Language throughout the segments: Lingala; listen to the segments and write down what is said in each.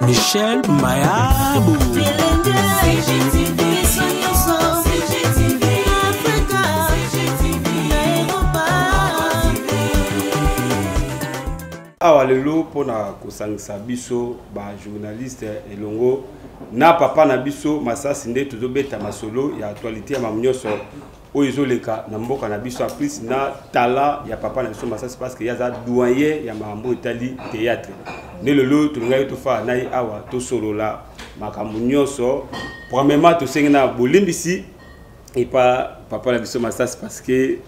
Michel Mayabu. awa lelo mpo na kosangisa biso bajournaliste elongo na papa na biso masasi nde tozobeta masolo ya actualité ya mamu nyonso oyo ezoleka na mboka na biso en plus na tala ya papa na biso masasi parce que ye aza doyen ya makambo etali théâtre nde lelo tolingaki tofaa na ye awa tosolola makambo nyonso premièrement tosengi na bolimbisi epa papa na biso masasi parce que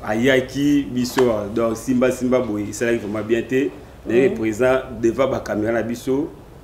ayaki biso donc simba simba boye esalaki vraiment bien te naye mhm. présent devant bacaméra na biso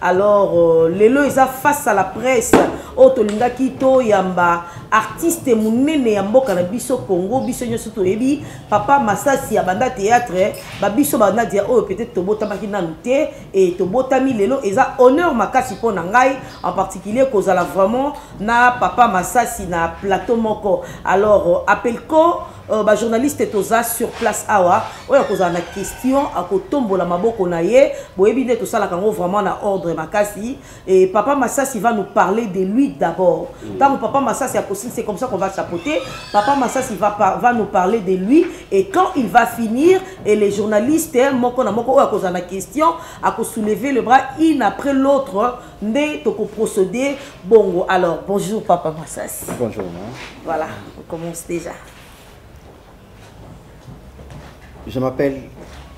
alors euh, lelo eza face à la presse oyo tolingaki toyamba artiste monene ya mboka na biso congo biso nyonso toyebi papa masasi ya banda théâtre babiso banadi ya oyo peut-être tobotamaki nanu te e tobotami lelo eza honneur makasi mpo na ngai en particulier kozala vraiment na papa masasi na plateau moko alors euh, apelco Euh, ba journaliste toza sur place awa oyo akozala na question akotombola maboko na ye boyebi nde tosalaka yango vraiment na ordre makasi et papa masasi va nous parler de lui d'abord ntango mm. papa masasi akosili c'est comme ça qu'on va chapeauter papa masasi va, par, va nous parler de lui et quand il va finir et les journalistes moko na moko oyo akozala na question akosoulever le bras une après l'autre nde toko procéder bongo alors bonjour papa masasi bonjour ma voilà on commence déjà je m'appelle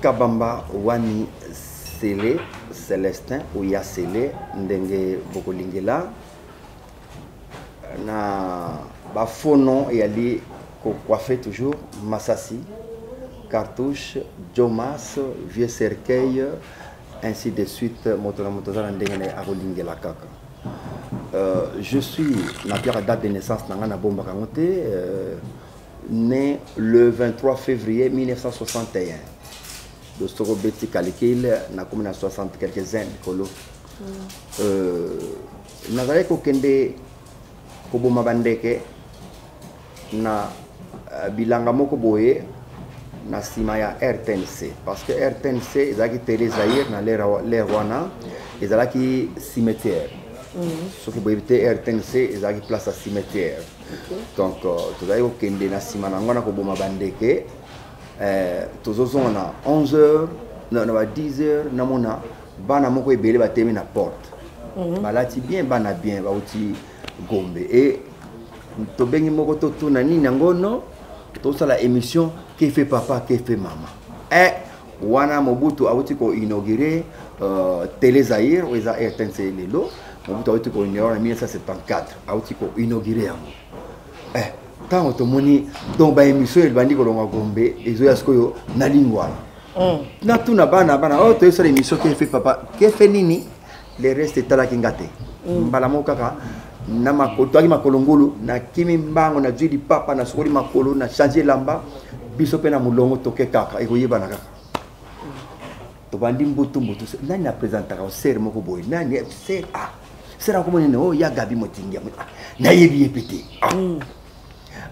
kabamba wani sele celestin oya sele ndenge bokolingela na bafaux nom eyali kocoiffe toujours masasi cartouche jomas vieux cercueil ainsi de suite moto na moto aza na ndenge na ye akolingela kaka euh, je suis napiaka date de naissance na ngai nabombaka yango te euh, né le 23 février 1961 do soko obeti calcul nakomi na 60 quelques uns likolo mm. euh, nazalaki kokende koboma bandeke na uh, bilanga moko boye na nsima ya rtnc parce que rtnc ezalaki tele zaire na lere wana ezalaki cimetière mhm. soki boyebi te rtnc ezalaki place ya cimetière donc euh, tozalaki kokende na nsima na yango na koboma bandeke euh, tozozonga na 11 heures na ba 10 heures namona bana moko ebele batemi na porte mhm. balati bien bana bien bauti gombe e tobengi moko totuna nini yango no tosala émission kefe papa kefe mama e wana mobutu awuti koinaugure uh, tele zaire oyo eza rtnc lelo mobutu awuti koinaugure na 1974 awuti koinaugure yango eh, ntango tomoni donc baémission ebandi kolonga gombe ezoya sikoyo na lingwala mm. natuna bana bana oyo oh, toyesala émission kefe papa kefe nini le reste etalaki nga te mm. mbala moko kaka na makolo toyaki makolo ngulu nakimi mbango nazwi lipapa nasukoli makolo na change elamba biso mpe na molongo toke kaka ekoyebana kaka tobandi mbutu mbutu nani apresentaka osere moko boye nani ser a ser akomona ne o ya gabi motingi yango nayebi ye mpe te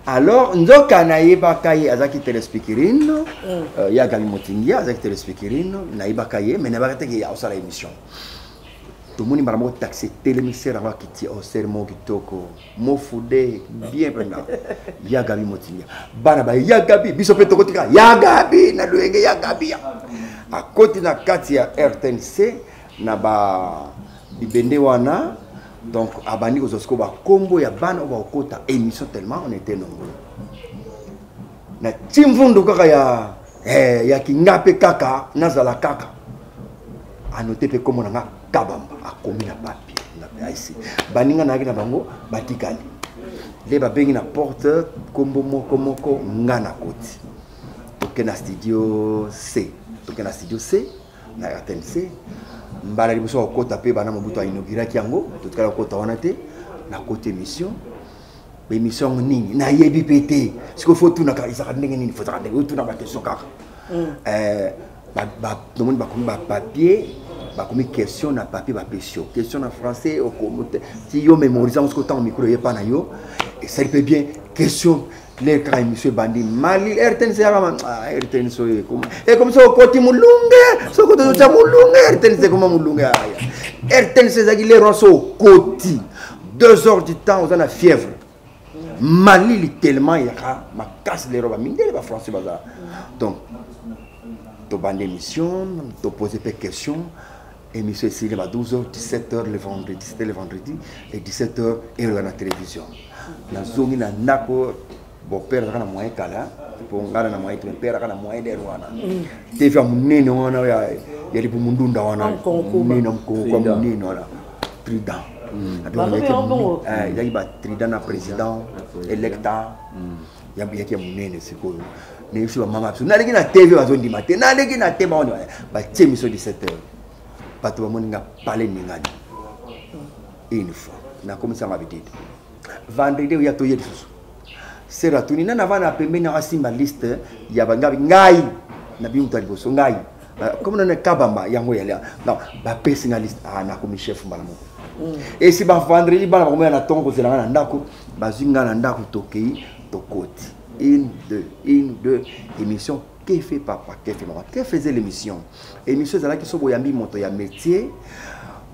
alors nzoka nayebaka ye azalaki telespikirino mm. euh, ye agali motingia azalaki telespikirino nayebaka ye mai nayebaka te ke aosala émission tomoni mbala moko taxi etelemisere yango akiti osere oh, moko kitoko mofude bien mpenza ya gabi motingia bana baye ya gabi biso mpe tokotika ya gabi na loyenge ya gabi akoti na kati ya rtnc na ba bibende wana donc abandi kozwa sikoyo bakombo ya bana oyo bakokota émission tellement on était nombreux na timvundu kaka ya eh, ya kinga mpe kaka nazala kaka anote mpe kombo na nga kabamba akomi na papier na paisi baninga nayaki na bango batikali nde babengi na porte kombo moko moko nga na koti toke na studio c toke na studio c na rtnc mbala liboso ya kokota mpe bana mobutu ainauguraki yango totikala kokota wana te nakoti émission baémission yango nini nayebi mpe te sikoyo fo otunaka ezaka ndenge nini fozaka ndenge otuna bakestion kaka mm. eh, tomoni bakomi bapapier bakomi question na papier bapesi yo question na français ti yo mémorise yango soki otango mikolo eye epa na yo esali mpe bien question claire kaka emission ebandi mali rtnc yaka rtnc oyo ekoma ekomi soki okoti molunge soki okoti ozotya molunge rtnc ekoma molunge aya rtnc ezalaki lere wana soki okoti deux heures du temps oza na fièvre mali litelement yaka makasi lero bamindele bafrançais bazala donc tobanda émission topose mpe question Émission esili ba 12h, 17h le vendredi, c'était le vendredi et 17h et la télévision. Na zongi na nako bon père kana moyen kala po ngana na moyen ton père kana moyen der wana. Mm. TV munene wana ya ya libu mundunda wana. Munene mkongo kwa munene wana. Prudent. Mm. Donc il y a eu ba trident na président électa. Mm. yaki ya monene sikoyo nayebisi bamama ya biso naleki na tv bazondima te naleki na te bango batie miso 17 heures bato bamoni nga pale ningani une fois nakomisanga bitete vendredi oya toye lisusu sera tuni nani avanda na pembeni yango asimba liste ya bangabi ngai na bino moto ya liboso ngai comme nana kabamba yango yale bapesi nga liste ah, nakomi chef mbala moko mm. esi bavendredi bana bakomoya na ntongo kozela nga na ndako bazwi ngai na ndako tokei tokoti une deux une deux émission kefe papa kefe mama kefe eza l'émission émission ezalaki so boyambi moto ya métier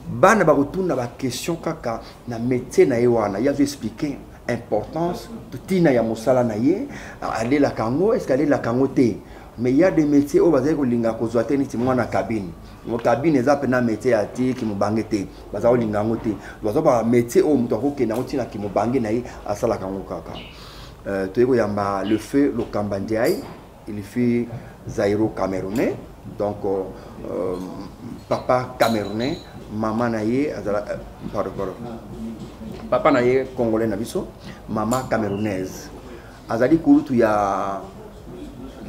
bana bakotuna baquestion kaka na métier na ye wana ye azoexplike importance ntina ya mosala na ye alelaka yango eske alelaka yango te mais ya de métier oyo bazali kolinga kozwa te neti mwana kabine mokabine eza mpena métier ya ti kimobange te baza kolinga yango te baza ba métier oyo moto akokende yango ntina kimobange na ye asalaka yango kaka euh, toyei koyamba le feu lokamba ndiaye ilifi zairo camerounais donc euh, euh, papa camerounais mama na ye azala euh, pardon pardon papa na ye congolais na biso mama camerounaise azali kulutu ya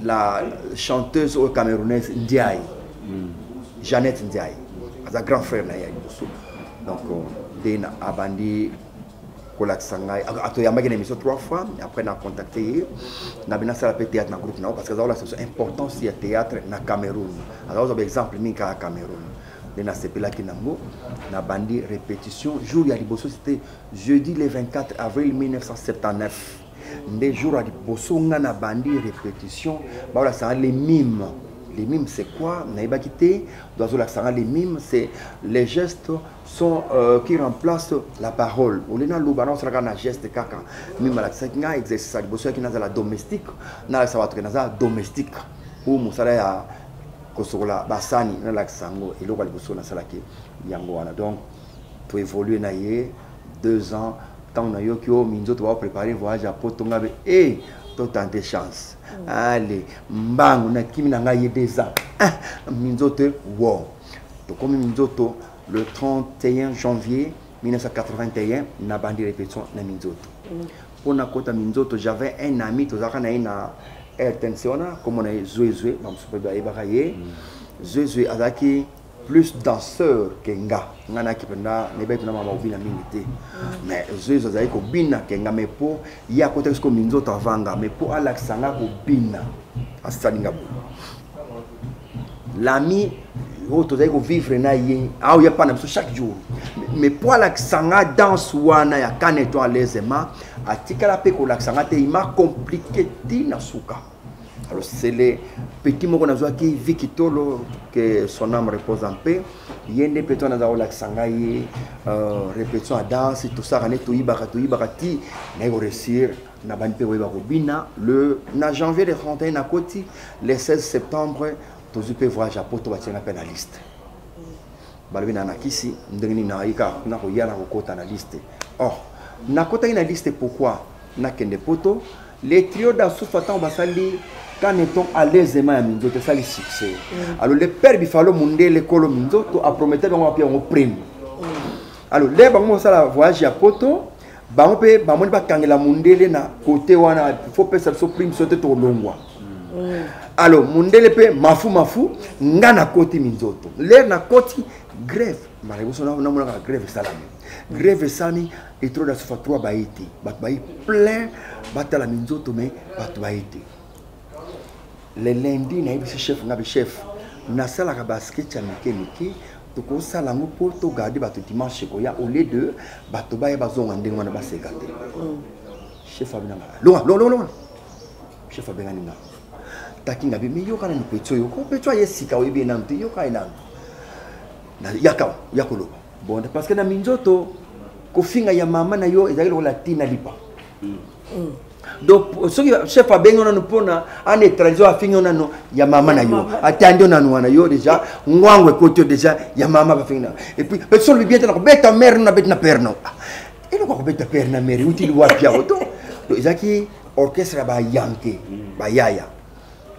la chanteuse oyo camerounaise ndiaye mm. jeannette ndiaye aza grand frère na ye ya liboso donc euh, nde abandi kolakisa ngai atoyambaki na émission trois fois après na contacte ye nabi nasala mpe théâtre na groupe na yango parce que aza kolakisa biso importance ya théâtre na cameroun aza kozwa baexemple mingi kaka cameroun nde nasepelaki nango nabandi répétition jour ya liboso site jeudi le 24 avril 1979 nde jour ya liboso nga na bandi répétition baolasanga le mime les mimes c'est quoi nayebaki te do azolakisa nga les mimes c'est les gestes sont euh, qui remplacent la parole olie naloba naosalaka na geste kaka mime alakisaki nga exercice ya liboso yaki nazala domestique nalakisa bato ke naza domestique ou mosala ya kosokola basani nalakisa yango eloko ya liboso nasalaki yango wana donc to évoluer na ye deux ans ntango nayoki oyo oh, minzoto bao préparer voyage ya poto nga be e eh, totante chance mm. ale mbangu nakimi na ngai ye deux ans ah, minzoto wo tokomi minzoto le 31 janvier 1981 nabandi répétition na minzoto mm. mpo nakota minzoto j'avais un ami tozalaka na ye na rtnc wana komona ye zwezwe bamosusu mpe bayebaka ye mm. zwezwe azalaki plus danseur ke nga nga nayaki mpenza nayebaki na mama obina mingi te mais zezo azali kobina ke nga mais mpo ye akotaki siko minzoto avanga mais mpo alakisa nga kobina asali nga boye lami oyo tozali kovivre na ye aoya mpa na biso chaque jour mais mpo alakisa nga danse wana ya kaneto alezema atikala mpe kolakisa nga te ima komplike ti na suka alors c'est le petit moko nazwaki viki tolo que son âme repose en paix ye nde mpe to naza kolakisa ngai ye euh, répétition ya danse tosaka nde toyibaka toyibaka ti naye koreussir na bandi mpe koyeba kobina le na janvier le 31 nakoti le 16 septembre tozwi mpe voyage ya poto batianga mpe na liste balobi na nakisi ndenge nini nayi kaka kuna koya na kokota na liste or nakotaki na liste pourquoi nakende poto Le trio d'Asufa ntango basali Caneton alezema ya minzoto esali succès mm. alors le père bifalo mundele kolo minzoto apromete bango bape yango prime mm. alors le bango basala voyage ya poto bango mpe bamoni bakangela mundele na kote wana faut pesa biso prime so te tolongwa mm. alors mundele mpe mafu mafu nga nakoti minzoto lere nakoti grève mara liboso namonaka grève esalami grève esalami Etro da sufa trois baye te bato baye plein batala minzoto me bato baye te le lundi nayebisi chef nga be chef nasalaka basketch ya mike mike tokosala yango mpo togarde bato dimanche ekoya au lieu de bato baya bazonga ndenge wana baseka te mm. chef abina nga longa longa longa chef abengani nga taki nga be me yoka nani petio yoko petio aye sika oyebi ye nanu te yoka ye nanu yakao yakoloba bonda parce que na minzoto kofinga ya mama na yo ezalaki lokola tina lipa mm. Mm. donc soki chef abengi yo nanu mpona ana étranger afingi yo nanu ya mama na yo atandi yo nanu wana yo déjà ngwango ekoti yo déjà ya mama bafingi na et puis mpe solobi bien te na kobeta mare no nabeti na père no ah, eloko akobeta père na mare utili wapi yango to ezalaki orchestre ya bayanke mm. bayaya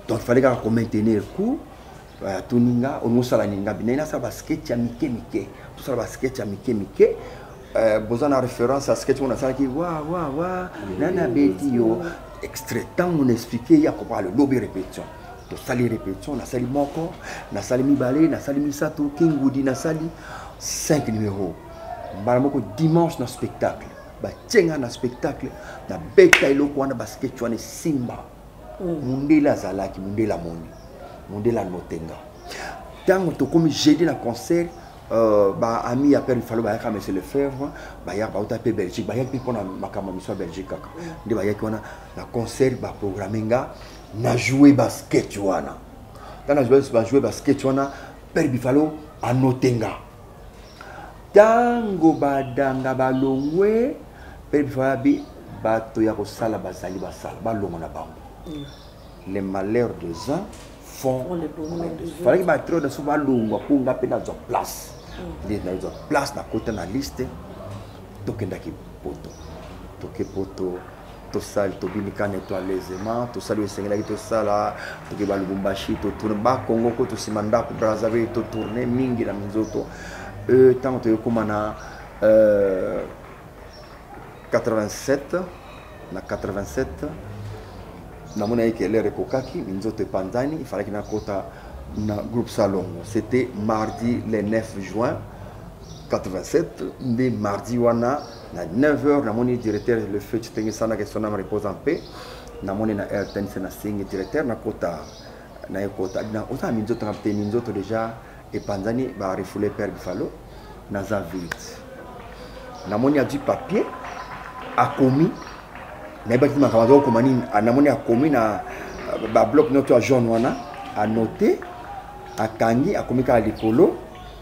donc fallait kaka komaintenir coup Voilà, toninga olingi osala ninga binayi nasala basketch ya mike mike tosala basketch ya mike mike euh, boza na référence ya sketch oyo nasalaki wa wa wa nani abeti yo extrait ntango na explike ye akokoka lobi répétition tosali répétition nasali moko nasali mibale nasali misato kingudi nasali 5 numéro mbala moko dimanche na spectacle batie ngai na spectacle nabeta eloko wana basketch wana esimba mm. mundele azalaki mundele amoni mundele anotenga ntango tokomi jeudi na concert Euh, ba ami ya père ifalo bayaka monsieur lefebvre bayaka bauta mpe belgique bayaki mpe mpona makambo ya miso ya belgique kaka mm. nde bayaki wana na concert baprogramme nga na joue basket wana ntango na joue basket wana père bifalo anote nga Tango ba danga ba longwe pe vabi bato ya kosala bazali basala balongo na bango les malheurs des uns font falaki baatrio na biso balongwa mpo nga mpe nazwa place nde nazwa place nakota na liste tokendaki poto toke poto tosali tobimi kane to alaisement tosali oyo esengelaki tosala toke ba lubumbashi totourne bakongo ko tosima ndako brazzaville totourne mingi na minzoto ntango euh, toyokoma na 87 euh, na 87 namonaki ke lere ekokaki minzoto epanzani ifalaki nakota na groupe salongo c'était mardi le 9 juin 87 nde mardi wana na 9 heures namoni directeur le feu Chitenge Sana que son âme repose en paix namoni na RTNC na singi directeur na kota na ekota na oza minzoto na te minzoto déjà epanzani ba refoule père Buffalo naza vide namoni azwi papier akomi nayebaki makambo aza kokoma nini namoni akomi na babloc nyonso ya jaune wana anote akangi akomi kaka likolo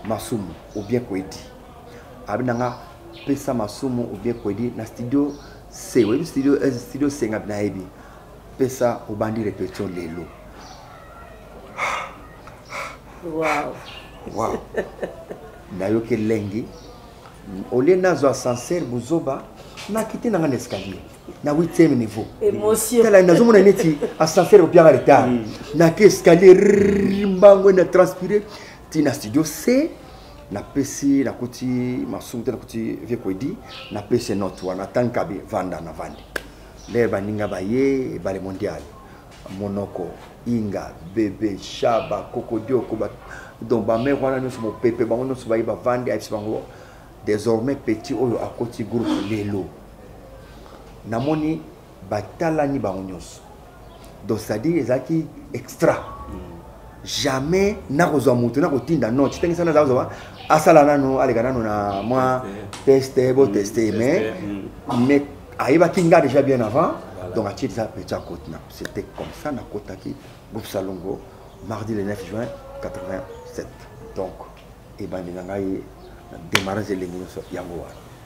masumu obien koyeti abi na nga pesa masumu ou bien kwedi na studio se oyebi studio eh, studio senga nayebi pesa obandi repetition lelo wow. wow. nayoki elengi olie nazwa ascenseur buzoba nakiti nanga na escalier na 8e niveau tala nazomona neti ascenseur opianga retard mm. naki escalier mbango na transpire ti na studio c napesi nakuti masumu te nakuti vie koedi napesi note wana tankabi vanda na vandi nde baninga baye ebale mondial monoko inga bebe shaba kokodioko donc bamere wana nyonso mopepe bango nyonso baye bavandi ayebisi bango désormais petit oyo akoti groupe lelo namoni batalani bango nyonso donc c'est-à-dire ezalaki extra jamais nakozwa moto nakotinda non citengisa naza kozwa asala nano aleka nano na mwa teste boteste mm, mais mm. mais ayebaki nga déjà bien avant donc atie eza petit akote na c'était comme ça nakotaki groupe salongo mardi le 9 juin 87 donc ebandi na ngai na démarrage elengi nyonso yango wana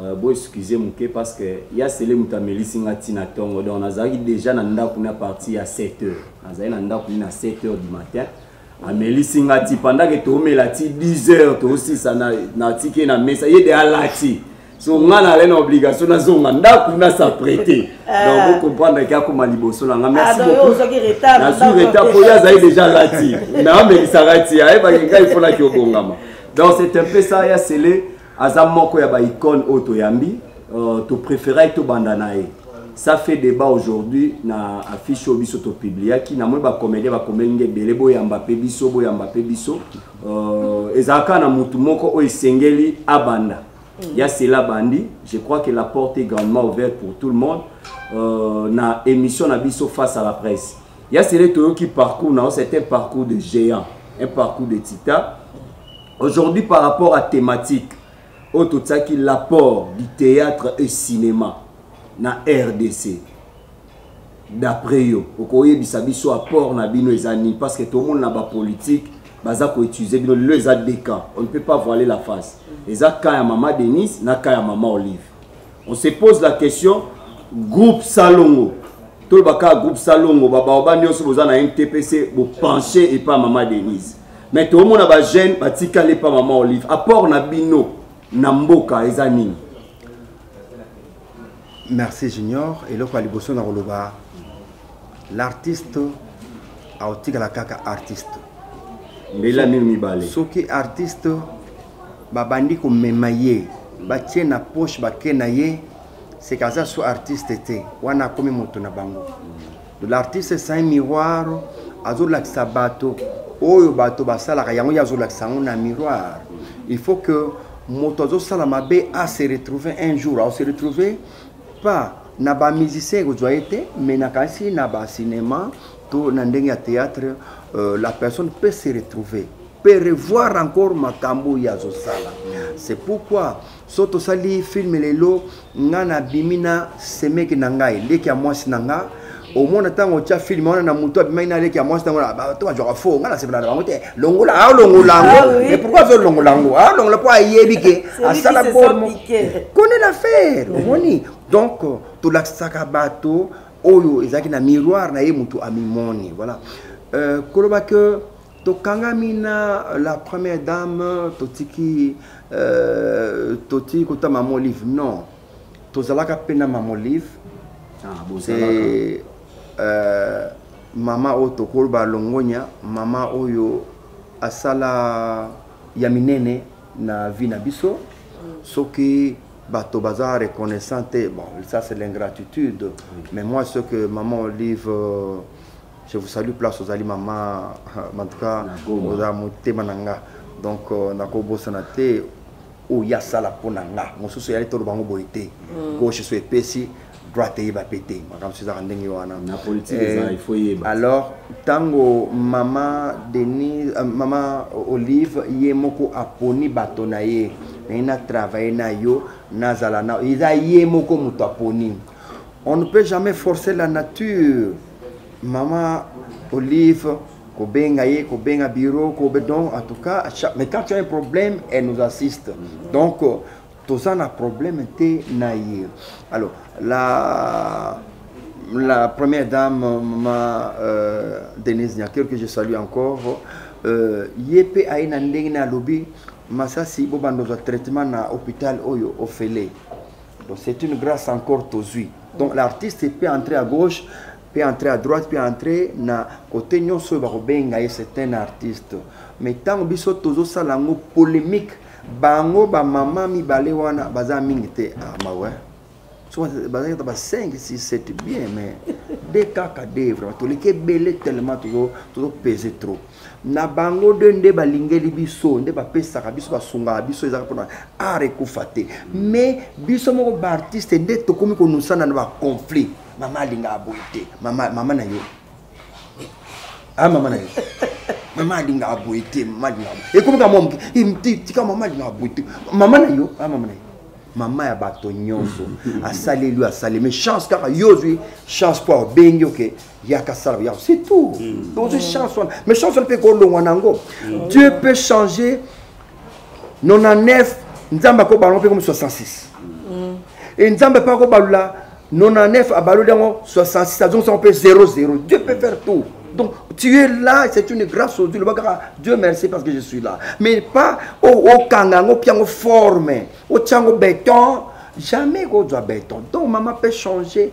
Euh, bo excuse moke parce que ya sele moto amelisi nga ntina ntongo donc nazalaki déjà na ndako na parti ya 7 heures nazali na ndako ni na 7 heures du matin amelisi nga ti pendant ke toomela ti 10 heures toosisa natiki ye na mesa ye de alati so nga nalai na obligation nazonga ndako nasa prete ah. donc bocomprendre ke akoma liboso na nga merci ah, beauknazwi retard mpo ye azali déjà alati naomelisaka ti ayebaki ngai mpo naki obongama donc c'est un peu ça ya sele aza moko ya ba icone oyo toyambi uh, to préférait tobanda na ye ça fait débat aujourd'hui na affiche oyo biso topubliaki namoni bacomédien bakomeli nde ebele boyamba mpe biso boyamba mpe biso euh, ezalaka na motu moko oyo esengeli abanda ya mm. cela bandi je crois que la porte est grandement ouverte pour tout le monde euh, na émission na biso face à la presse ya sele toyoki parcours na yo c'est un parcours de géant un parcours de titan aujourd'hui par rapport à thématique oyo totiaki l'apport du théâtre et cinéma na rdc d'après yo okoyebisa biso apport na bino eza nini parce que tomona na bapolitique baza koutilize bino lelo eza deux cas on ne peut pas voiler la face eza cas ya mama denise na cas ya mama olive On se pose la question groupe Salongo toloba kaka groupe Salongo ba baoba nyonso boza na NTPC bo pencher et pas maman Denise. Mais toomona ba jeune batikali pas maman Olive. Apport na bino na mboka eza nini? Merci Junior eloko ya liboso na koloba l'artiste aotikala kaka artiste mbela mino mibale soki artiste babandi komema ye batie na poche bake na ye seka aza so artiste te wana akomi moto na bango l'artiste saint miroir azolakisa bato oyo bato basalaka yango ye azolakisa yango na miroir il faut que moto azosala mabe ase retrouver un jour aose retrouver pas na bamusicien ekozwa ye te mais nakanisi na bacinema to na ndenge ya théâtre euh, la personne peut se retrouver pe revoir encore makambo oyo azosala c'est pourquoi so tosali filme lelo nga nabimi na semeki na ngai leki ya mwasi na nga omona ntango otya filme wana na motu abimaki na leki ya mwasi ntango bato bazwaka fo nga nasepela na bango te longola aolongola ah, yango mais pourkoi azolongola yango aolongola ah, mpo ayebi ke asala bormo kone na faire omoni donc tolakisaka bato oyo ezalaki na miroir na ye motu amimoni voilà euh, koloba que tokangami na la première dame totiki euh, totiki kota mama olive non tozalaka mpe na mama olive ah, e, euh, mama oyo tokoloba longonya mama oyo asala ya minene na vie na biso soki bato baza reconnaissant te bon ça c'est l'ingratitude oui. mais moi ce que maman olive euh, je vous salue place ozali mama en tout cas oza motema na nga donc euh, nakobosana te oyo asala mpo na nga mosusu eyali toloba yango boye te mm. gauche so epesi droite eyeba mpe te makambo ezaka ndenge wana eh, alors ntango mama denis euh, mama olive ye moko aponi bato na ye naye na travaille na yo nazala na eza ye moko moto aponi On ne peut jamais forcer la nature. Maman Olive, kobenga ye, kobenga bureau, kobe donc en tout cas, mais quand tu as un problème, elle nous assiste. Donc euh, toza na problème te na ye. Alors la la première dame, maman euh, Denise Niaker, que je salue encore, euh, ye pe aye na ndenge na lobi masasi bobanda ozwa traitement na hôpital oyo ofele Donc c'est une grâce encore tozui. Donc l'artiste peut entrer à gauche, peut entrer à droite, peut entrer na côté nyonso oyo bakobenga ye c'est un artiste. Mais ntango biso tozosala yango polémique, bango bamama mibale wana baza mingi te ah, mawe bazalaki ata ba 5 6 7 bien mais de kaka de vraiment toleki ebele tellement tozopese trop na bango de nde balingeli biso nde bapesaka biso basungaka biso ezaka mpona art ekufa te mais biso moko baartiste nde tokomi konusana na baconflit mama alingaka boye te mama, mama na yo a ah, mama na yo mama alingaka boye te mama alingaka ekomi ka mwa moke eh, tika mama alingaka boye te mama na yo a ah, mama na yo mama ya bato nyonso asaleli oyo asalemi chance kaka yo ozwi chance mpo abengi oke yaka sala yako c'est tout mm. ozo mm. chance wana mais chance wana mpe kolongwa na yango mm. dieu peut changer 99 nzambe akobalongo mpe komi 66 e nzambe mpe akobalula 99 abaloli yango 66 azongisango mpe 00 dieu peut faire tout Donc, tu es là, c'est une grâce au Dieu. Le bagara, Dieu merci parce que je suis là. Mais pas au, au kangango, piango forme, au tiango béton. Jamais qu'on doit béton. Donc, maman peut changer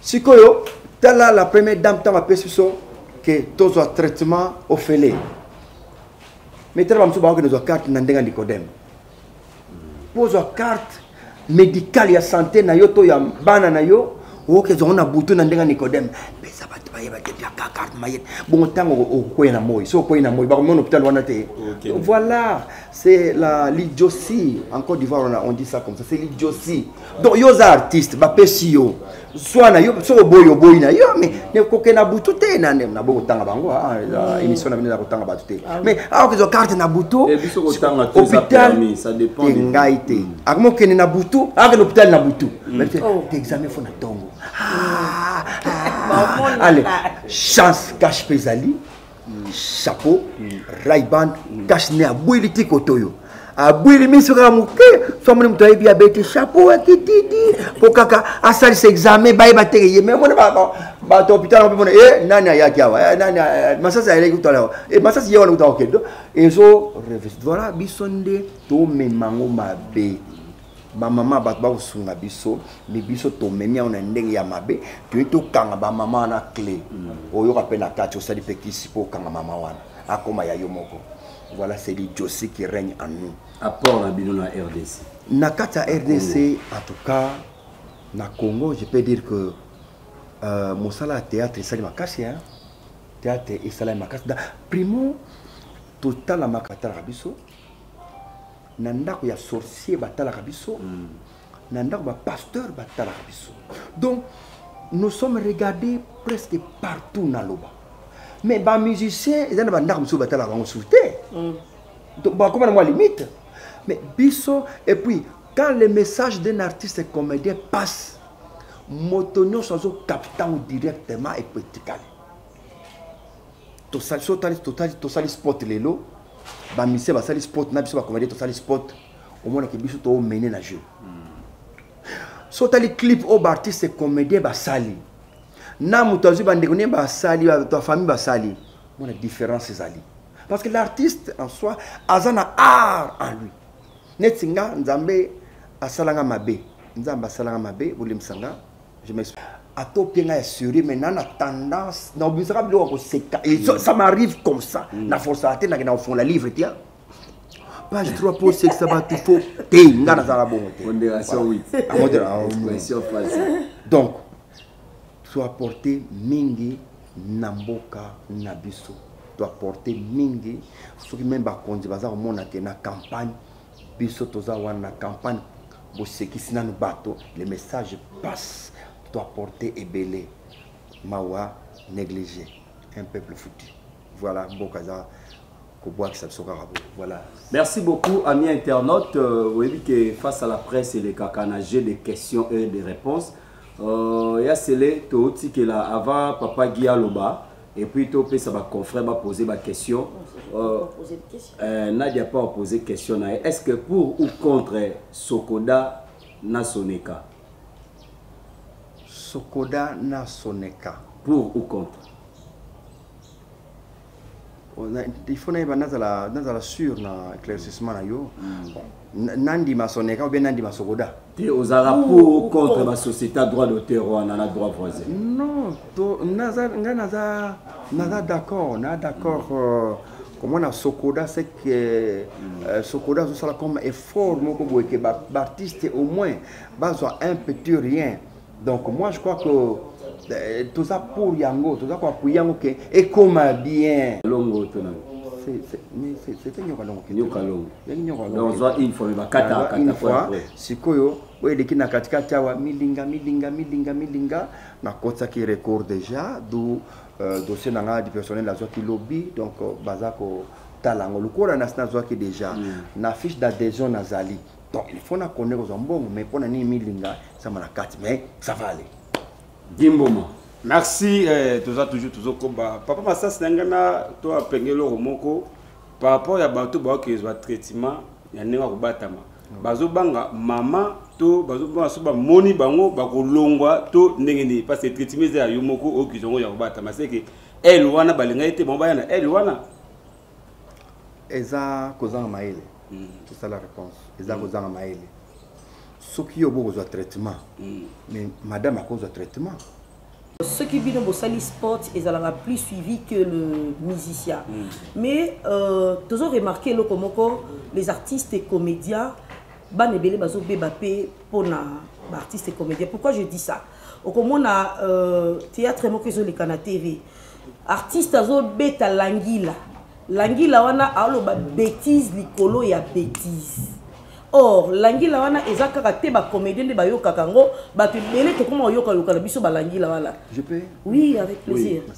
sikoyo tala la première dame ntango apesi biso ke tozwa traitement ofele me tala bamosusu bakokende zwa carte na ndenge ya nicodème mpo ozwa carte médicale ya santé na yo to ya bana na yo okoki ezwango na butu na ndenge ya nicodème pesa bato bayeba te biaka carte mayete bongo ntango okokwei na moi so okwei na moi bakomona hôpital wana te voilà c'est la lidiosi en côte d'ivoire on dit ça comme ça c'est lidiosi donc yo oza artiste bapesi yo zwa na yo soki oboyi oboyi na yo me koke na butu te naboyi kotanga bango ah, ah, mm. émission na bino na kotanga bato te ah mais awa kozwa karte na butu eh, hôpital te ngai te mm. akoma okende na butu akende hôpital na butu mm. oh. te examen fo na ntongo ale chance cache mpe ezali chapeau raiban cache ne abweli ti kotoyo abwili miso kaka moke famoni moto ayebi abeti chapeau akititi mpo kaka asalisa examen bayeba te ye me mona bato hôpital yango mpe mona e nani ayaki awa eh, nani eh, masasi ayeleki kutala awa e masasi ye wana kuta kokende ezo revis voilà biso nde tomema yango mabe bamama bato bakosunga biso mi biso tomemi yango na ndenge ya mabe toyei tokanga bamama wana cle mm. oyoka mpe na kati osali mpe kisi mpo okanga mama wana akoma ya yo moko voilà c'est l'idiotie qui règne en nous apport na bino na rdc na kati ya rdc en tout cas na congo je peux dire que euh, mosala ya théâtre esali makasi hein? théâtre esalami makasi primo totalamaka talaka biso na ndako ya sorcier batalaka biso mm. na ndako bapasteur batalaka biso donc nous sommes regardés presque partout na loba mais bamusicien eza na bandako mosusu batalaka bango susu te mm. bakoma na mwa limite mais biso et puis quand le message d'un artiste comédien passe moto nyonso azokapta yango directement epo etikali tosali so tali totali tosali sport lelo ba musicien basali sport na biso ba comédien tosali sport omonaki biso to mene na jeu so tali clip oyo baartiste comédien basali na moto azwi bandeko nde basali bato ya famille basali mona différence ezali parce que l'artiste en soi aza na art en lui neti nga nzambe asalanga mabe nzambe asalanga mabe bolemisa nga je m'explique ata opie ngai ya sérieux mais na na tendance na obisaka biloko ya koseka et ça- ça m'arrive comme ça na forcaka te nakenda kofongola livre te page 3 po osekisa bato fo te ngai nazala bongo te Pondération, oui. Ah, modéra- ah, oui. Expression false. donc toaporte mingi na mboka na biso toaporte mingi soki meme bakonzi baza komona te na campagne biso toza wana na campagne bosekisi nanu bato le message passe to apporte ebele mawa négligé un peuple foutu voilà mboka eza kobwakisa biso kaka bo voilà merci beaucoup ami internaute euh, oyebi ke face à la presse elekaka na jeu de questions et de réponses euh, ya sele totikela avant papa gi aloba et puis to pesa ba confrères ba poser ba question euh, euh, Nadia pas poser question na est-ce que pour ou contre Sokoda na Soneka Sokoda na Soneka pour ou contre il faut nayeba nazala nazala sur na éclaircissement na yo mm. nandima soneka obe nandima sokoda te ozala pour contre basociété ya droit d'auteur wana na droit voisin non ngai naza naza d'accord na d'accord euh, komona sokoda ce que euh, euh, sokoda azosala comme effort moko boye ke baartiste au moins bazwa un petit rien donc moi je crois que euh, toza pour yango toza koapuye yango ke ekoma bien longo tona c'était nyoka longo nyoka longo yangi nyoka longo donc zwa une fois mais bakata kata une fois sikoyo oyo eleki na katikati awa milinga milinga milinga milinga nakotisaki record déjà d'où euh, dossier na ngai du personnel nazwaki lobi donc euh, baza kotala yango lokola nasi nazwaki déjà mm. na fiche d'adhésion nazali donc il faut nakonde kozwa mbongo mais mpo na nini milinga samba na kati mais ça va aller dimboma merci eh, toza toujours tozokoba papa masasi na ngai na to apenge eloko moko par rapport ya bato baokezwa traitement ya ndenge akobatama bazobanga mama to bazobanga so bamoni bango bakolongwa to ndenge nini parce que traitement eza ya yo moko oyo kizongo ya kobatama seke ele wana balingaki te bango baya na ele wana eza kozanga mayele mm. c'est ça la réponse eza mm. kozanga mayele soki yo bokozwa traitement mm. mais madame akozwa traitement soki bino bosali sport ezalaka plus suivi que le musicien mm. mais euh, tozo remarquer eloko moko les artistes et comédiens bana ebele bazobeba mpe mpona baartiste et comédien pourquoi je dis ça okomona euh, théâtre moko ezoleka na tv artiste azobeta langila langila wana aoloba bétise likolo ya bétise or langila wana eza kaka te bacomédien nde bayokaka yango bato ebele tokoma koyokayoka na biso balangila wana oui avec plaisir oui.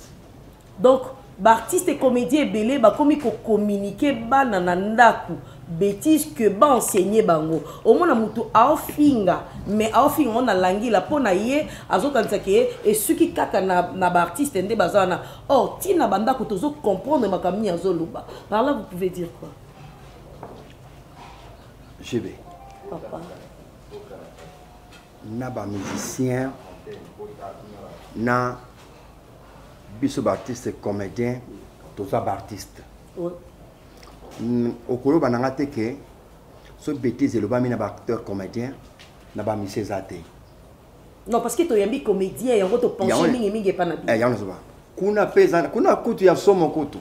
donc baartiste comédien ebele bakomi kocommunike bana na ndako betise que ba enseigner bango omona mutu aofinga mais aofinga ngo na langila mpo na ye azokanisa ke esuki kaka na, na baartiste nde baza wana or oh, ntina bandako tozo comprendre makambo nini azoloba par là vous pouvez dire quoi gb papa na bamusicien na biso baartiste comédien toza baartiste ouais. Mm, okoloba na nga te ke so bêtise elobami na baacteur comédien na bamisi eza te non parce que toyambi comédien yango topenche mingimingi epa na bino eh, yango nazoba kuna mpe eza kuna kutu ya somo kutu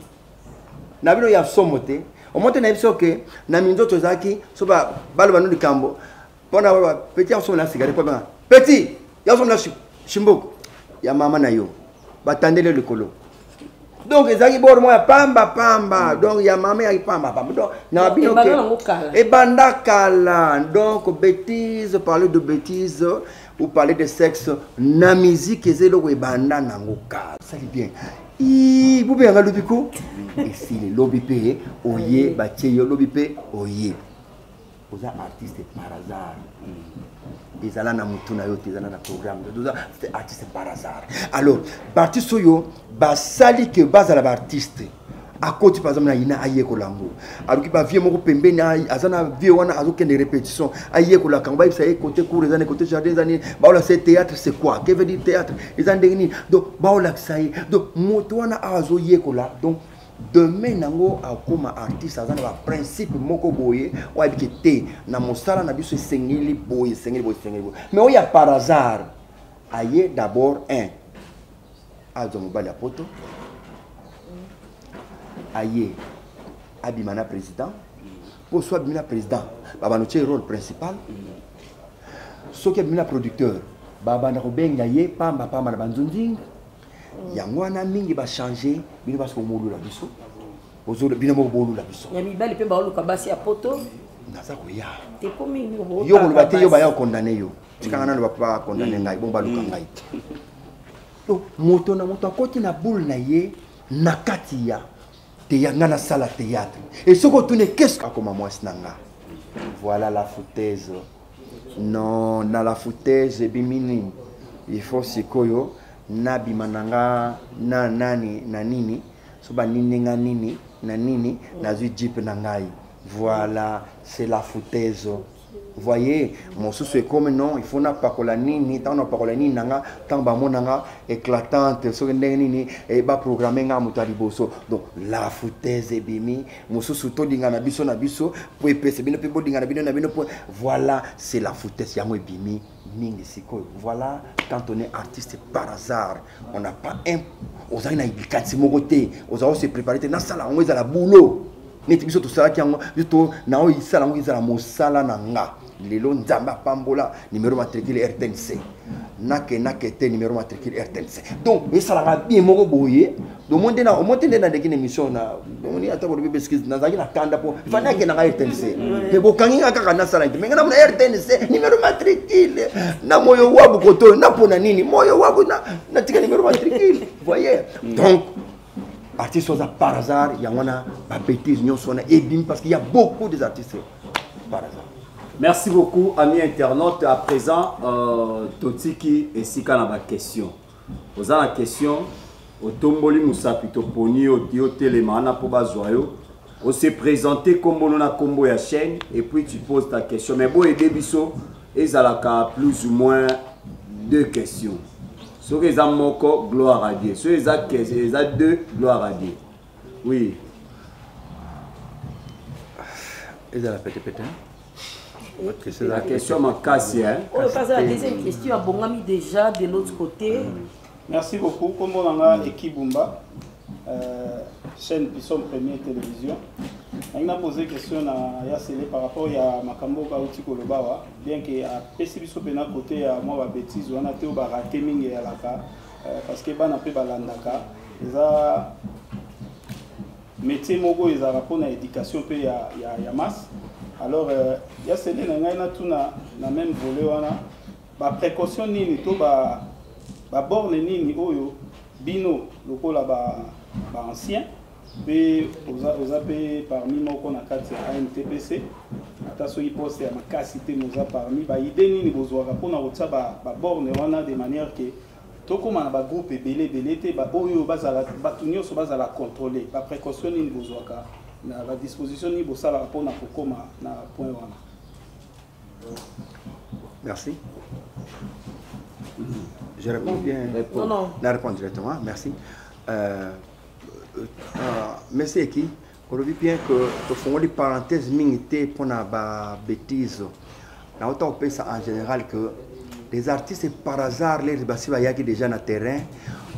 na bino ya somo te omo te nayebi soke na minzoto ezalaki so baloba no likambo pona wa petit ya sona sigare pona petit ya sona shimboko ya mama na yo batandele likolo donc ezalaki bor moko ya pamba pamba mm. donc ya mama yaki pamba pamba donc na bino ebanda kala donc bétise parler de bétise ou parler de sexe na musique eza eloko ebanda nango kala sali bien bobe yanga lobi ko esili lobi mpe oye batie yo lobi mpe oye oza artiste par hasard mm. ezala na motu na yo te ezala na programme oza artiste par hasard alors baartiste oyo basali ke bazala baartiste akoti par exemple na yina ayekola yango aluki bavie moko pembeni aza na vie wana azokende répétition ayekolaka yango bayebisa ye cote cour eza ne cote jardin eza nini baolakisa ye théâtre c'est quoi que veut dire théâtre eza ndenge nini donc baolakisa ye donc moto wana awa azoyekola donc demain nango akoma artiste aza na baprincipe moko boye oyo ayebike te na mosala na biso esengeli boye esengeli boye esengeli boye mais oyo ya par hasard aye d'abord un azwa mobali ya poto aye abima na président mpo so abimi na président babanda otye rôle principal soki abimi na producteur babanda kobenga ye pamba pamba na banzunzinga mm. yango wana mingi bachange bino basi bomolula biso bino moko bolula biso ya mibali mpe baoluka basi ya poto naza koya yo koloba te yo baya kokondane yo tikanga nano bapa kondane ngai bongo baluka mm. ngai to moto na moto akoti na boule na ye na kati ya teya ngai nasala théâtre e soki otune keske akoma mwasi na nga voilà la foutaise non na la foutaise ebimi nini il faut sikoyo nabima na nga na nani na nini so banini nga nini na nini nazwi jeep na ngai voilà c'est la foutaise voyez mosusu ekomi non il faut napakola nini ntango napakola nini na nga ntango bamona nga éclatante soki ndenge nini eh, baprogramme nga moto ya liboso donc la foutaise ebimi mosusu tolingana biso na biso mpo epesa bino mpe bolingana bino na bino mpo voilà c'est la foutesse yango ebimi mingi sikoyo voilà quand on est artiste par hasard on n'a pas un ozali na likanisi moko te ozali ose prépare te nasala yango ezala boulot neti biso tosalaki yango biso to na oyo isala yango ezala mosala na nga lelo nzambe apambola numero matricule rtnc nake nake te numero matricule rtnc donc esalaka bien moko boye domo nde omo te nde naleki na émission na omoni ata bolobi beskise nazalaki na kanda mpo fani akendaka rtnc mpe bokangi nga kaka nasala nte menge namona rtnc numero matricule na moyo wabu kotoyo napona nini moyo wabu natika numero matricule voye donc artiste oza par hasard yango wana babétise nyonso wana ebimi parce qu'il y a beaucoup des artistes par hasard merci beaucoup ami internaute à présent euh, totiki esika na baquestion oza na question otomboli mosapi toponi yo otelema wana mpo bazwa yo on se présente kombolo na kombo ya chaîne et puis tu poses ta question mais boyede biso ezalaka plus ou moins deux questions soki eza moko gloire à dieu soki eza kese eza deux gloire à dieu oui ezala petepete la question makasi oyo kaza la deuxième question abongami déjà de l'autre côté merci beaucoup kombo na nga ekibumba Euh, chaîne Pisson Premier Télévision. nangi napose question na ya sele par rapport ya makambo oyo bauti koloba awa bien ke apesi biso mpena kote ya mwa babétise wana te oyo barate mingi eyalaka euh, parce que bana mpe balandaka eza métier moko ezalaka mpona éducation mpe ya, ya, ya masse alors euh, ya sele na ngai natuna na même volet wana baprécaution nini to baborne ba nini oyo Bino lokola ba ba ancien pe oza oza pe parmi moko na kati ya AMTPC ata soki poste ya makasi te moza parmi ba idée nini bozwaka pona kotia ba ba borne wana de manière que tokoma na ba groupe ebele ebele te ba oyo bazala bato nyonso bazala contrôler ba précaution nini bozwaka na ba disposition nini bosalaka pona kokoma na point wana Merci. Je réponds bien. Non, non. La réponse directement. Merci. Euh, euh, euh monsieur qui olobi bien que tofongoli parenthèse mingi te mpona babétise nauta kopesa en général que les artistes par hasard les basi bayaki déjà na terrain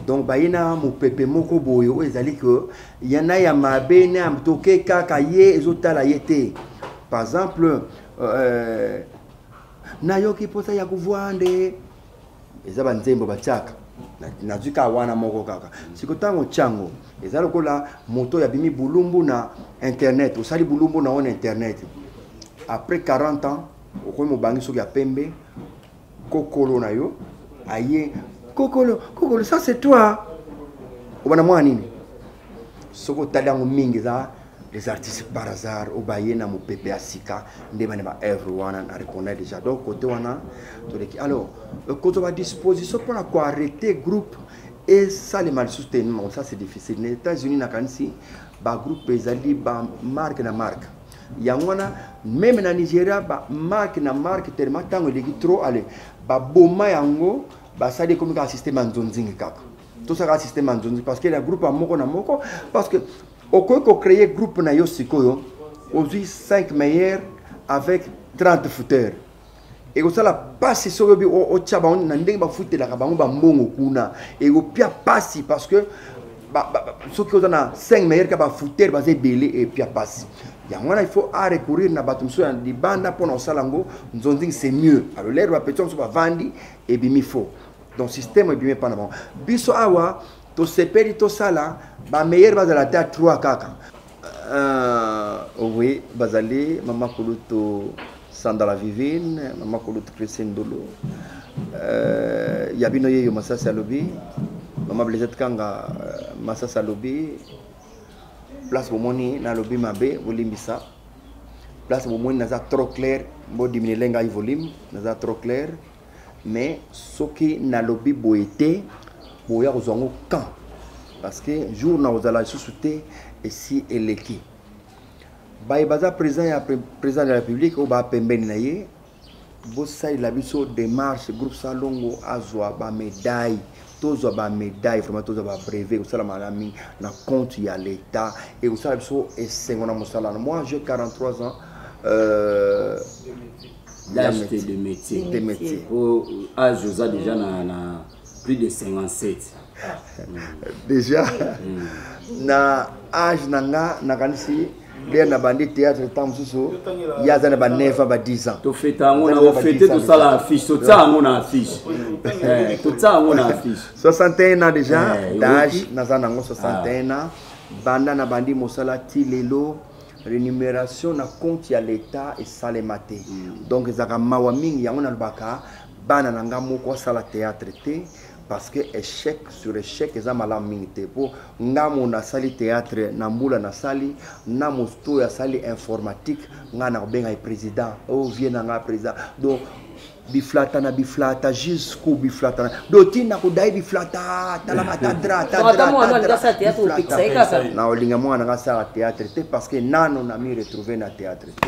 donc baye na mopepe moko boye oyo ezali ke ya na ya mabe na ya toke kaka ye ezotala ye te par exemple eh, nayoki mposa ya kovwa nde eza banzembo batiaka nazwi kaka wana moko kaka siko ntango otyango eza lokola moto oyo abimi bulumbu na internet osali bulumbu na yo na internet après 40 ans okomi mobangi soki ya pembe kokolo na yo aye kokolo kokolo ça c'est toi obana mwana nini soki otali yango mingi eza les artistes par hasard oyo baye na mopepe ya sika nde bane ba œuvre wana na reconnaît déjà donc côté wana toleki alors euh, kozwa badisposition mpo na koarrete groupe esalema lisusu te non ça c'est difficile na états-unis nakanisi bagroupe ezali bamarque na marque yango wana meme na nigeria ba marque na marque tellement ntango eleki trop ale baboma yango basali ekomi kaka systeme ya nzonzingi kaka tosaka systeme ya nzonzingi parce que na groupe ya moko na moko parce que okoki kocreye groupe na yo sikoyo ozwi 5 meilleur avec 30 fouteur ekosala mpasi soki obi otya bango na ndenge bafutelaka bango bambongo kuna ekopia mpasi parce que soki oza na 5 meilleur ka bafutere baza ebele epia mpasi yango wana il faut a recourir na bato mosusu ya libanda mpo na kosala yango nzonzing c'est mieux alors lere bapetio mosusu bavandi ebimi faux donc système ebimi epa na bango biso awa tosepeli tosala bameilleur bazala ata 3 kaka euh, oui bazali mama kulutu Sandala Vivine, Mama Kulutu Christine Dulu, euh, ya bino yeyo Masasi alobi, Mama Blaisette Kanga euh, Masasi alobi, place bomoni nalobi mabe bolimbisa place bomoni naza trop clair bodiminelie ngai volume naza trop clair mais soki nalobi boye te boya kozwa yango camp parce que jour na kozala lisusu te esi eleki baye baza président ya président de la république oyo bapembeni na ye bosalela biso démarche groupe salongo azwa bamedaille tozwa bamedaille vraiment tozwa babrevet ekosalama na mingi na compte ya l'état ekosala biso esengo na mosala na moi j'ai 43 ans euh, l'âge de métier de métier po age oza déjà na, na plus de 57 déjà mm. na age na nga nakanisi bien na bandi théâtre ntango mosusu ye aza na ba 9 ans ba 10 ans tofeta yango na ofete tosala affiche totia yango na affiche eh, totia yango na affiche 61 ans déjà eh, d'âge naza nango 61 ah. ans banda na bandi mosala ti lelo rémunération na compte ya l'état esalema te mm. donc ezalaka mawa mingi yango nalobaka bana na nga moko asala théâtre te parce que échec sur échec eza malamu mingi te mpo nga mo nasali théâtre na mbula nasali na mosto oyo asali informatique nga na kobenga ye président o oh, vie na nga président donc biflata na biflata jusqu'au biflata do tina kodai biflata talama tadra tadra na olinga mwana nga sala théâtre te parce que nano na mi retrouver na théâtre te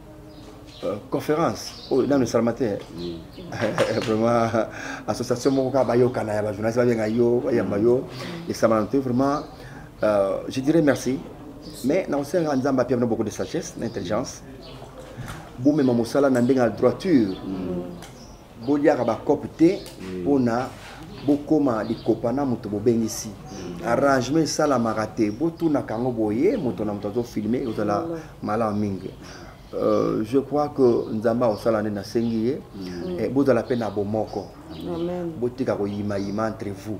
Euh, conférence oyo oh, nano esalama te vraiment association moko kaka bayokana ya bajournaliste babenga yo bayamba yo esalama te vraiment euh, je dirais merci mais nakosenga nzambe apia bino beaucoup de sagesse na intelligence bomema mosala na ndenge ya droiture boliaka bacope te mpona mm. bokoma likopa na moto bobengisi mm. arrangement esalamaka te botunaka yango boye moto na moto azofilme ekozala mm. malamu mingi Euh, je crois que nzambe akosala nde nasengi ye mm. eh, bozala mpe na bomoko botika koyimayima entre vous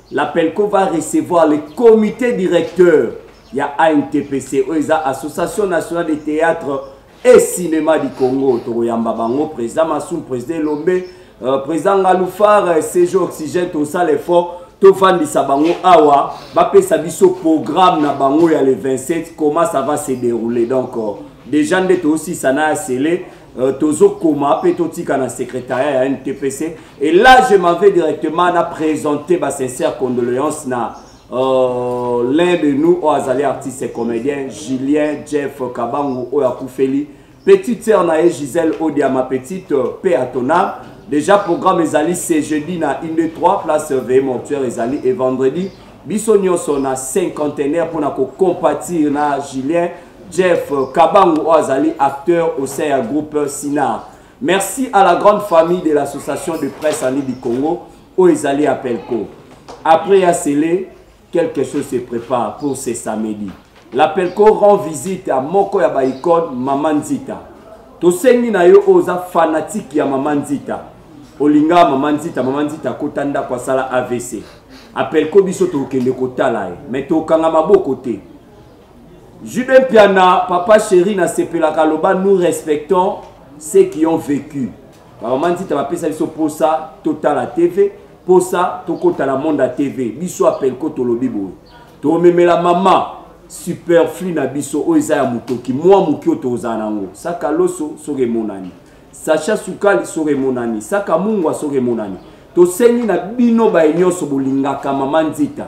la pelco va recevoir le comité directeur ya antpc oyo eza association nationale de théâtre et cinéma du congo tokoyamba bango président masum président elombe euh, président ngalufar euh, cg oxygène tosala effort tofandisa bango awa bapesa biso programme na bango ya le 27 comment ça va se dérouler donc euh, déjà nde toosisa na ya sele Euh, tozokoma mpe totika na secrétariat ya ntpc et là je m'en vais directement na présenter ba sincère condoléance na euh, l'un de nous oyo azali artiste et comédien julien jeff kabangu oyo akufeli petite sœur na ye gisèle odia ma petite euh, paix à ton âme déjà programme ezali ce jeudi na 1 2 3 place veille mortuaire ezali et vendredi biso nyonso na cinquantenaire mpona kocompatir na julien Jeff Kabangu oyo azali acteur au sein ya groupe Sinar. Merci à la grande famille de l'association de presse en Libi Congo oyo ezali ya Pelco. Après ya Sele, quelque chose se prépare pour ce samedi. La Pelco rend visite à moko ya ba icône Maman Nzita. Tosengi na yo oza fanatique ya Maman Nzita. Olinga Maman Nzita, Maman Nzita kota ndako asala AVC. A Pelco biso tokende kotala ye, mais tokanga maboko te. Jube Mpiana, papa chéri, na sepela kaloba, nous respectons ceux qui ont vécu. Maman Nzita bapesa biso posa totala TV, posa tokota na monde à TV. Biso appel ko tolobi boye. Tomemela mama superflu na biso oyo eza ya motoki mwa moki oyo tozala nango saka loso soki emonani sacha sukali soki emonani saka mungwa soki emonani tosengi na bino baye nyonso bolingaka mama nzita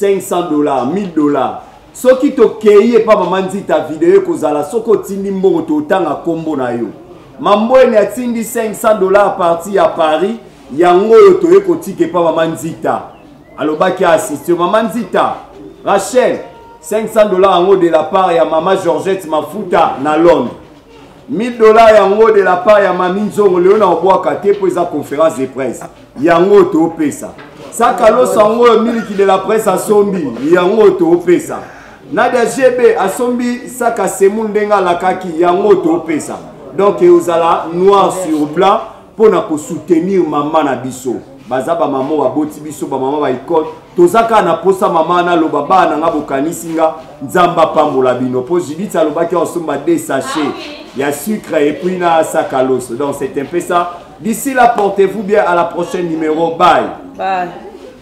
500 dollars 1000 dollars soki tokei epa mama nzita video ekozala soki otindi mbongo totanga nkombo na yo mambwene atindi 500 dollars parti ya paris yango oyo toye kotika epa mama nzita alobaki asiste mama nzita rachel 500 dollars yango de la part ya mama georgette mafuta na londres 1000 dollars yango de la part ya mami nzongo lelo na obwaka te mpo eza conférence de presse yango topesa sakaloso yango oyo miliki de la presse asombi yango topesa nadia gb asombi saka semul ndenge alakaki yango topesa donc eozala noir sur blanc mpo na kosoutenir mama na biso baza bamama oyo baboti biso bamama ba ekole toza kaka na mposa mama wana aloba baa na nga bokanisi nga nzambe apambola bino mpo judith alobaki akosomba de sachet ah ya sucre epuis na saka loso donc c'est un peu ça d'ici là portez-vous bien à la prochaine numéro bye, bye.